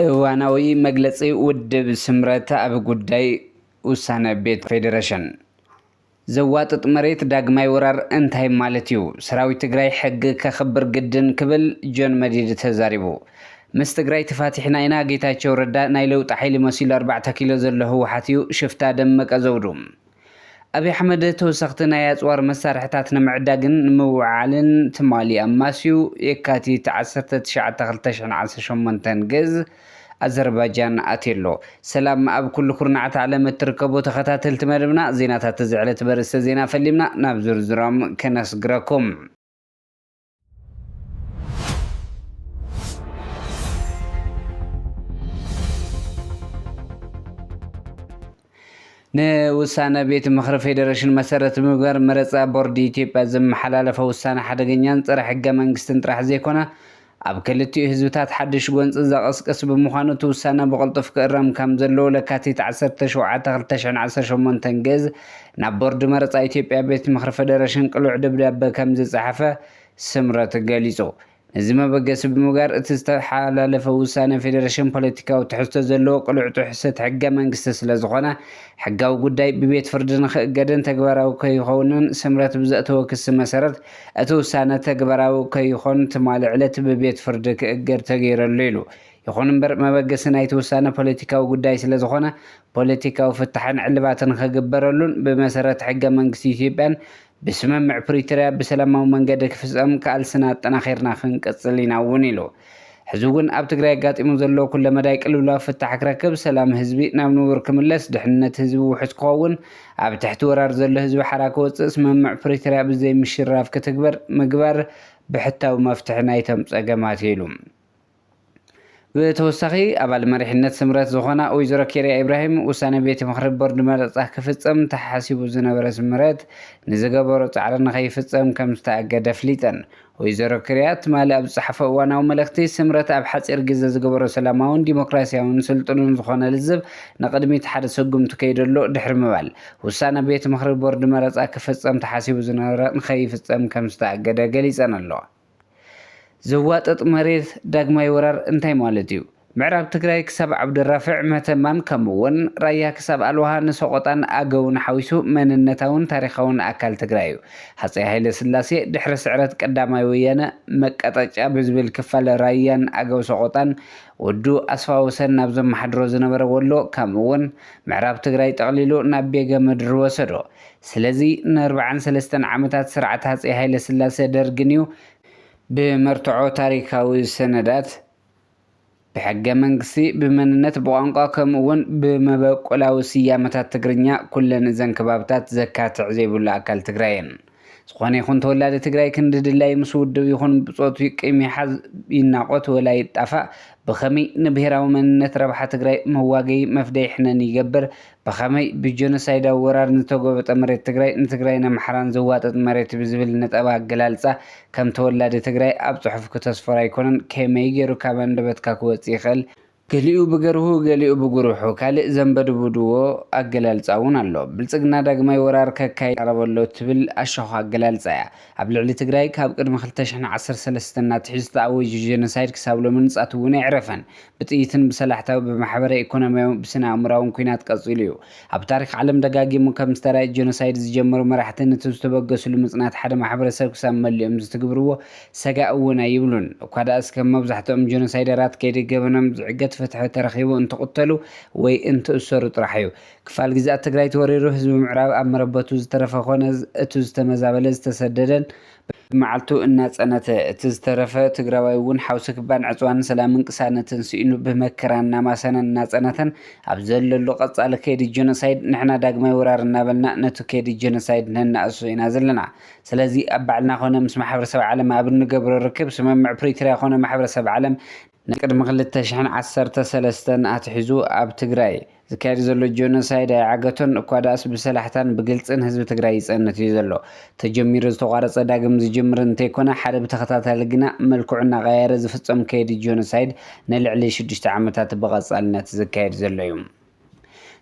እዋናዊ መግለፂ ውድብ ስምረት ኣብ ጉዳይ ውሳነ ቤት ፌዴሬሽን ዘዋጥጥ መሬት ዳግማይ ወራር እንታይ ማለት እዩ? ሰራዊት ትግራይ ሕጊ ከኽብር ግድን ክብል ጆን መዲድ ተዛሪቡ። ምስ ትግራይ ተፋቲሕና ኢና ጌታቸው ረዳ ናይ ለውጢ ሓይሊ መሲሉ ኣርባዕተ ኪሎ ዘሎ ህወሓት እዩ ሽፍታ ደመቀ ዘውዱ። ኣብይ ኣሕመድ ተወሰኽቲ ናይ ኣፅዋር መሳርሕታት ንምዕዳግን ንምውዕዓልን ትማሊ ኣማስዩ የካቲት ዓሰርተ ትሽዓተ ክልተ ሽሕን ዓሰርተ ሸሞንተን ግዝ ኣዘርባጃን ኣትዩ ኣሎ። ሰላም ኣብ ኩሉ ኩርናዓት ዓለም እትርከቡ ተኸታተልቲ መደብና ዜናታት እዚ ዕለት በርእስተ ዜና ፈሊምና ናብ ዝርዝሮም ከነስግረኩም። ንውሳነ ቤት ምኽሪ ፌዴሬሽን መሰረት ብምግባር መረፃ ቦርድ ኢትዮጵያ ዘመሓላለፎ ውሳነ ሓደገኛን ፀረ ሕገ መንግስትን ጥራሕ ዘይኮነ ኣብ ክልቲኡ ህዝብታት ሓዱሽ ጎንፂ ዘቐስቅስ ብምዃኑ እቲ ውሳነ ብቕልጡፍ ክእረም ከምዘለዎ ለካቲት ዓሰርተ ሸውዓተ ክልተ ሽሕን ዓሰርተ ሸሞንተን ግእዝ ናብ ቦርድ መረፃ ኢትዮጵያ ቤት ምኽሪ ፌዴሬሽን ቅሉዕ ደብዳበ ከምዝፀሓፈ ስምረት ገሊፁ። ነዚ መበገሲ ብምግባር እቲ ዝተሓላለፈ ውሳነ ፌደረሽን ፖለቲካዊ ትሕዝቶ ዘለዎ ቅሉዕ ጥሕሰት ሕገ መንግስቲ ስለዝኾነ ሕጋዊ ጉዳይ ብቤት ፍርዲ ንክእገድን ተግባራዊ ከይኸውንን ስምረት ብዘእተዎ ክሲ መሰረት እቲ ውሳነ ተግባራዊ ከይኾን ትማሊ ዕለት ብቤት ፍርዲ ክእገድ ተገይሩ ኣሎ ኢሉ። ይኹን እምበር መበገሲ ናይቲ ውሳነ ፖለቲካዊ ጉዳይ ስለዝኾነ ፖለቲካዊ ፍታሕን ዕልባትን ክግበረሉን ብመሰረት ሕገ መንግስቲ ኢትዮጵያን ብስምምዕ ፕሪቶርያ ብሰላማዊ መንገዲ ክፍፀም ቃልስና ኣጠናኺርና ክንቅፅል ኢና እውን ኢሉ። ሕዚ እውን ኣብ ትግራይ ኣጋጢሙ ዘሎ ኩለመዳይ ቅልውላው ፍታሕ ክረክብ፣ ሰላም ህዝቢ ናብ ንቡር ክምለስ፣ ድሕንነት ህዝቢ ውሑስ ክኸውን፣ ኣብ ትሕቲ ወራር ዘሎ ህዝቢ ሓራ ክወፅእ ስምምዕ ፕሪቶርያ ብዘይምሽርራፍ ክትግበር ምግባር ብሕታዊ መፍትሒ ናይቶም ፀገማት ኢዩ ኢሉ። ብተወሳኺ ኣባል መሪሕነት ስምረት ዝኾና ወይዘሮ ኬርያ ኢብራሂም ውሳነ ቤት ምኽሪ ቦርድ መረፃ ክፍፀም ተሓሲቡ ዝነበረ ስምረት ንዝገበሮ ፃዕሪ ንከይፍፀም ከምዝተኣገደ ኣፍሊጠን። ወይዘሮ ክርያ ትማሊ ኣብ ዝፀሓፎ እዋናዊ መልእኽቲ ስምረት ኣብ ሓፂር ግዘ ዝገበሮ ሰላማውን ዲሞክራሲያውን ስልጡንን ዝኾነ ልዝብ ንቕድሚት ሓደ ስጉምቲ ከይደሉ ድሕሪ ምባል ውሳነ ቤት ምኽሪ ቦርድ መረፃ ክፍፀም ተሓሲቡ ዝነበረ ንከይፍፀም ከምዝተኣገደ ገሊፀን ኣለዋ። ዘዋጥጥ መሬት ዳግማይ ወራር እንታይ ማለት እዩ? ምዕራብ ትግራይ ክሳብ ዓብዱራፍዕ፣ መተማን ከምኡ'ውን ራያ ክሳብ ኣልዋሃ ንሰቖጣን ኣገውን ሓዊሱ መንነታውን ታሪኻውን ኣካል ትግራይ እዩ። ሃጸይ ሃይለስላሴ ድሕሪ ስዕረት ቀዳማይ ወያነ መቀጠጫ ብዝብል ክፋል ራያን ኣገው ሰቖጣን ወዱ ኣስፋወሰን ናብ ዘመሓድሮ ዝነበረ ወሎ ከምኡ'ውን ምዕራብ ትግራይ ጠቕሊሉ ናብ ቤገ ምድሪ ወሰዶ። ስለዚ ንኣርብዓን ሰለስተን ዓመታት ስርዓት ሃጸይ ሃይለስላሰ ደርግን'ዩ ብመርትዖ ታሪካዊ ሰነዳት፣ ብሕገመንግስቲ፣ ብመንነት፣ ብቋንቋ ከምኡ'ውን ብመበቆላዊ ስያመታት ትግርኛ ኩለን እዘን ከባብታት ዘካትዕ ዘይብሉ ኣካል ትግራይ'የን። ዝኾነ ይኹን ተወላዲ ትግራይ ክንዲ ድላዩ ምስ ውድብ ይኹን ብጾቱ ይቅይም ይሓዝ ይናቖት ወላ ይጣፋእ ብኸመይ ንብሄራዊ መንነት ረብሓ ትግራይ መዋገዪ መፍደዪ ሕነን ይገብር ብኸመይ ብጀኖሳይዳዊ ወራር ንዝተጎበጠ መሬት ትግራይ ንትግራይን ኣምሓራን ዘዋጥጥ መሬት ብዝብል ነጠባ ኣገላልፃ ከም ተወላዲ ትግራይ ኣብ ፅሑፍ ክተስፍሮ ኣይኮነን ከመይ ገይሩ ካብ ኣንደበትካ ክወፅእ ይኽእል ገሊኡ ብገርሁ ገሊኡ ብጉርሑ ካልእ ዘንበድቡድዎ ኣገላልፃ እውን ኣሎ ብልፅግና ዳግማይ ወራር ከካይድ ይቃረብ ኣሎ እትብል ኣሻዃ ኣገላልፃ እያ ኣብ ልዕሊ ትግራይ ካብ ቅድሚ ክልተ ሽሕን ዓሰርተ ሰለስተን ኣትሒዙ ተኣወጁ ጀኖሳይድ ክሳብ ሎሚ ንፃት እውን ኣይዕረፈን ብጥይትን ብሰላሕታዊ፣ ብማሕበረ ኢኮኖሚያዊ፣ ብስነ ኣእምሮኣውን ኩናት ቀጺሉ እዩ። ኣብ ታሪኽ ዓለም ደጋጊሙ ከም ዝተራእየ ጆኖሳይድ ዝጀመሩ መራሕቲ ንቲ ዝተበገስሉ ምጽናት ሓደ ማሕበረሰብ ክሳብ መሊኦም ዝትግብርዎ ሰጋእ እውን ኣይብሉን። እኳ ድኣስ ከም መብዛሕትኦም ጆኖሳይደራት ከይዲ ገበኖም ዝዕገት ፍትሒ ተረኺቡ እንትቕተሉ ወይ እንትእሰሩ ጥራሕ እዩ። ክፋል ግዝኣት ትግራይ ተወሪሩ ህዝቢ ምዕራብ ኣብ መረበቱ ዝተረፈ ኮነ እቱ ዝተመዛበለ ዝተሰደደን በብመዓልቱ እናጸነተ፣ እቲ ዝተረፈ ትግራዋይ እውን ሓውሲ ክባን ዕጽዋን ሰላምን ቅሳነትን ስኢኑ ብመከራ እናማሰነን እናጸነተን ኣብ ዘለሉ ቀጻሊ ከይዲ ጀኖሳይድ ንሕና ዳግማይ ወራር እናበልና ነቱ ከይዲ ጀኖሳይድ ነናእሶ ኢና ዘለና። ስለዚ ኣብ ባዕልና ኮነ ምስ ማሕበረሰብ ዓለም ኣብ እንገብሮ ርክብ ስምምዕ ፕሪትርያ ኮነ ማሕበረሰብ ዓለም ናይ ቅድሚ ክልተ ሽሕን ዓሰርተ ሰለስተን ኣትሒዙ ኣብ ትግራይ ዝካየድ ዘሎ ጆኖሳይድ ኣይዓገቶን እኳ ድኣስ ብሰላሕታን ብግልጽን ህዝቢ ትግራይ ይጸንት እዩ ዘሎ። ተጀሚሩ ዝተቋረጸ ዳግም ዝጅምር እንተይኮነ ሓደ ብተኸታታሊ ግና መልክዑ እናቐያየረ ዝፍጸም ከይዲ ጆኖሳይድ ንልዕሊ ሽዱሽተ ዓመታት ብቐጻልነት ዝካየድ ዘሎ እዩ።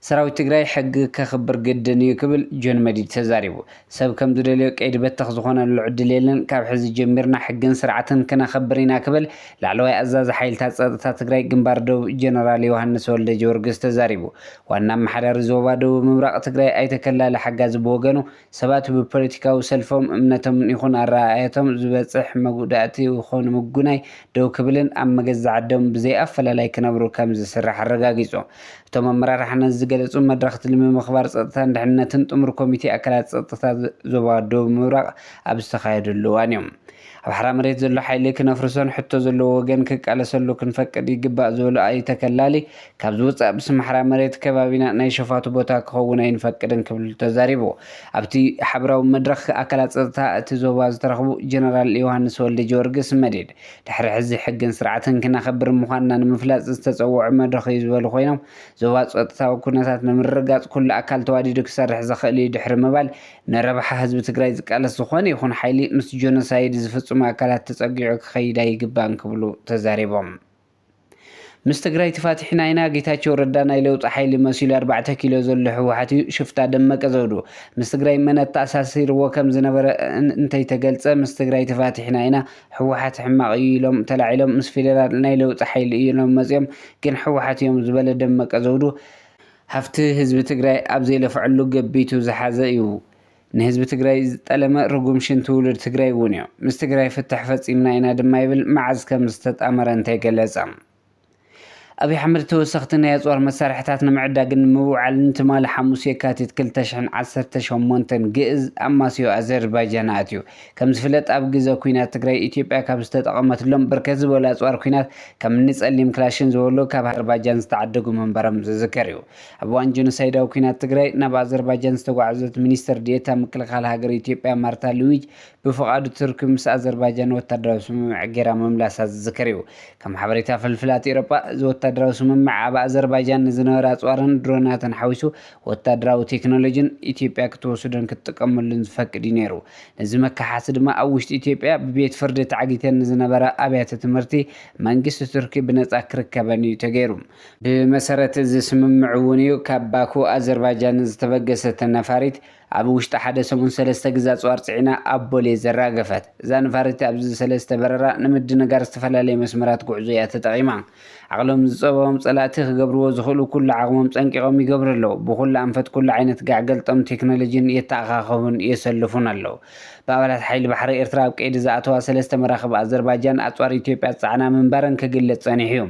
ሰራዊት ትግራይ ሕጊ ከኽብር ግድን እዩ ክብል ጆን መዲድ ተዛሪቡ። ሰብ ከም ዝደልዮ ቀይዲ በተኽ ዝኾነሉ ዕድል የለን፣ ካብ ሕዚ ጀሚርና ሕግን ስርዓትን ክነኸብር ኢና ክብል ላዕለዋይ ኣዛዚ ሓይልታት ፀጥታ ትግራይ ግንባር ደቡብ ጀነራል ዮሃንስ ወልደጀወርግስ ተዛሪቡ። ዋና ኣመሓዳሪ ዞባ ደቡብ ምብራቕ ትግራይ ኣይተ ከላሊ ሓጋዚ ብወገኑ ሰባት ብፖለቲካዊ ሰልፎም፣ እምነቶምን ይኹን ኣረኣእያቶም ዝበፅሕ መጉዳእቲ ይኹን ምጉናይ ደው ክብልን ኣብ መገዛዓዶም ብዘይኣፈላላይ ክነብሩ ከምዝስራሕ ኣረጋጊፁ። እቶም ኣመራርሓ ነዚ ዝገለፁ መድረኽ ትልሚ ምኽባር ፀጥታን ድሕንነትን ጥሙር ኮሚቴ ኣካላት ፀጥታ ዞባ ዶብ ምብራቕ ኣብ ዝተኻየደሉ እዋን እዮም። ኣብ ሓራ መሬት ዘሎ ሓይሊ ክነፍርሶን ሕቶ ዘለዎ ወገን ክቃለሰሉ ክንፈቅድ ይግባእ ዝበሉ ኣይተ ተከላሊ ካብዚ ወፃእ ብስም ሓራ መሬት ከባቢና ናይ ሸፋቱ ቦታ ክኸውን ኣይንፈቅድን ክብል ተዛሪቡ። ኣብቲ ሓበራዊ መድረኽ ኣካላት ፀጥታ እቲ ዞባ ዝተረኽቡ ጀነራል ዮሃንስ ወልደጀወርግስ፣ መዲድ፣ ድሕሪ ሕዚ ሕግን ስርዓትን ክነኽብር ምዃንና ንምፍላጥ ዝተፀወዑ መድረኽ እዩ ዝበሉ ኮይኖም፣ ዞባ ፀጥታዊ ኩነታት ንምርግጋፅ ኩሉ ኣካል ተዋዲዱ ክሰርሕ ዘኽእል እዩ ድሕሪ ምባል፣ ንረብሓ ህዝቢ ትግራይ ዝቃለስ ዝኾነ ይኹን ሓይሊ ምስ ጆኖሳይድ ዝፍፅሙ ኣካላት ተፀጊዑ ክኸይድ ኣይግባእን ክብሉ ተዛሪቦም። ምስ ትግራይ ትፋቲሕና ኢና ጌታቸው ረዳ ናይ ለውጢ ሓይሊ መሲሉ ኣርባዕተ ኪሎ ዘሎ ህወሓት እዩ ሽፍታ ደመቀ ዘውዱ ምስ ትግራይ መን ኣተኣሳሲርዎ ከም ዝነበረ እንተይተገልፀ ምስ ትግራይ ተፋቲሕና ኢና ህወሓት ሕማቅ እዩ ኢሎም ተላዒሎም ምስ ፌደራል ናይ ለውጢ ሓይሊ እዮም መፅዮም ግን ህወሓት እዮም ዝበለ ደመቀ ዘውዱ ሃፍቲ ህዝቢ ትግራይ ኣብ ዘይለፍዐሉ ገቢቱ ዝሓዘ እዩ። ንህዝቢ ትግራይ ዝጠለመ ርጉም ሽንቲ ውሉድ ትግራይ እውን እዩ። ምስ ትግራይ ፍትሕ ፈፂምና ኢና ድማ ይብል መዓዝ ከም ዝተጣመረ እንተይገለፀ። ኣብይ ኣሕመድ ተወሰኽቲ ናይ ኣፅዋር መሳርሕታት ንምዕዳግን ንምውዓልን ትማሊ ሓሙስ የካቲት ክልተ ሽሕን ዓሰርተ ሸሞንተን ግእዝ ኣማስዮ ኣዘርባጃን ኣትዩ። ከም ዝፍለጥ ኣብ ግዘ ኩናት ትግራይ ኢትዮጵያ ካብ ዝተጠቐመትሎም ብርክት ዝበሉ ኣፅዋር ኩናት ከምኒ ፀሊም ክላሽን ዝበሉ ካብ ኣዘርባጃን ዝተዓደጉ ምንባሮም ዝዝከር እዩ። ኣብ እዋን ጀኖሳይዳዊ ኲናት ትግራይ ናብ ኣዘርባጃን ዝተጓዕዘት ሚኒስትር ዲኤታ ምክልኻል ሃገር ኢትዮጵያ ማርታ ሉዊጅ፣ ብፍቓድ ቱርኪ ምስ ኣዘርባጃን ወታደራዊ ስምምዕ ገይራ ምምላሳ ዝዝከር'ዩ። ከም ሓበሬታ ፍልፍላት ኤውሮጳ፣ እዚ ወታደራዊ ስምምዕ ኣብ ኣዘርባጃን ንዝነበረ ኣጽዋርን ድሮናትን ሓዊሱ ወታደራዊ ቴክኖሎጂን ኢትዮጵያ ክትወስዶን ክትጥቀመሉን ዝፈቅድ'ዩ ነይሩ። ነዚ መከሓሲ ድማ ኣብ ውሽጢ ኢትዮጵያ ብቤት ፍርዲ ተዓጊተን ንዝነበራ ኣብያተ ትምህርቲ መንግስቲ ቱርኪ ብነጻ ክርከበን'ዩ ተገይሩ። ብመሰረት እዚ ስምምዕ እውን እዩ ካብ ባኩ ኣዘርባጃን ዝተበገሰት ነፋሪት ኣብ ውሽጢ ሓደ ሰሙን ሰለስተ ግዘ ኣፅዋር ፅዒና ኣብ ቦሌ ዘራገፈት። እዛ ነፋሪት ኣብዚ ሰለስተ በረራ ንምድንጋር ዝተፈላለዩ መስመራት ጉዕዞ እያ ተጠቒማ። ዓቕሎም ዝፀበቦም ፀላእቲ ክገብርዎ ዝኽእሉ ኩሉ ዓቕሞም ፀንቂቖም ይገብሩ ኣለው። ብኹሉ ኣንፈት ኩሉ ዓይነት ጋዕገልጠም ቴክኖሎጂን የተኣኻኸቡን የሰልፉን ኣለው። ብኣባላት ሓይሊ ባሕሪ ኤርትራ ኣብ ቀይዲ ዝኣተዋ ሰለስተ መራኽብ ኣዘርባጃን ኣፅዋር ኢትዮጵያ ዝፀዓና ምንባረን ክግለፅ ፀኒሑ እዩ።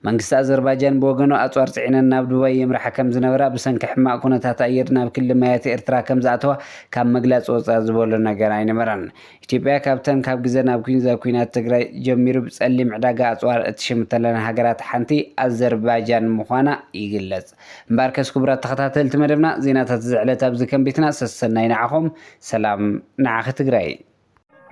መንግስቲ ኣዘርባጃን ብወገኑ ኣጽዋር ጽዒነን ናብ ዱባይ የምርሓ ከም ዝነበራ ብሰንኪ ሕማቕ ኩነታት ኣየር ናብ ክሊ ማያት ኤርትራ ከም ዝኣተዋ ካብ ምግላጽ ወጻእ ዝበሎ ነገር ኣይነበረን። ኢትዮጵያ ካብተን ካብ ግዘ ናብ ኲንዘ ኲናት ትግራይ ጀሚሩ ብጸሊም ዕዳጋ ኣጽዋር እትሽምተለን ሃገራት ሓንቲ ኣዘርባጃን ምዃና ይግለጽ። እምበኣርከስ ክቡራት ተኸታተልቲ መደብና ዜናታት እዚ ዕለት ኣብዚ ከም ቤትና ሰሰናዩ ንዓኹም ሰላም ንዓኺ ትግራይ።